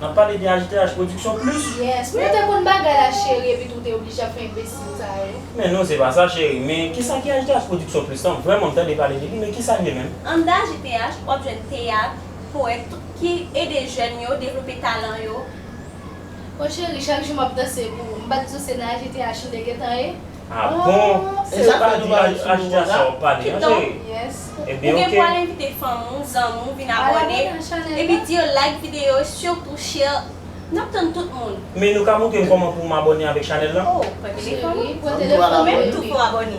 Nap pale de HDH production plus. Yes wi ou te konn bagay la cheri epi tou ou te oblije ap fè enbesil sa yo. Men non se pa sa cheri, men kisa ki HDH production plus lan, vrèman m tande pale de li men kisa l ye menm? Anndan HDH wap jwenn teyat, powèt, tout ki ede jèn yo devlope talan yo. Oh cheri chak jou map danse pou ou, m pa di w se nan HDH m te gentan ye? Ah bon se ou pa di Ajiya sa wap pale an chéri Ebyen ok. Ou gen pou al envite fanm ou, zanmi ou vin abòne epi di yo like videyo yo surtout share Nap tann tout moun. Men nou ka moutrem kòman poum abòne avèk chanèl lan? Oh pran telefon ou, ou menm tou pou abòne.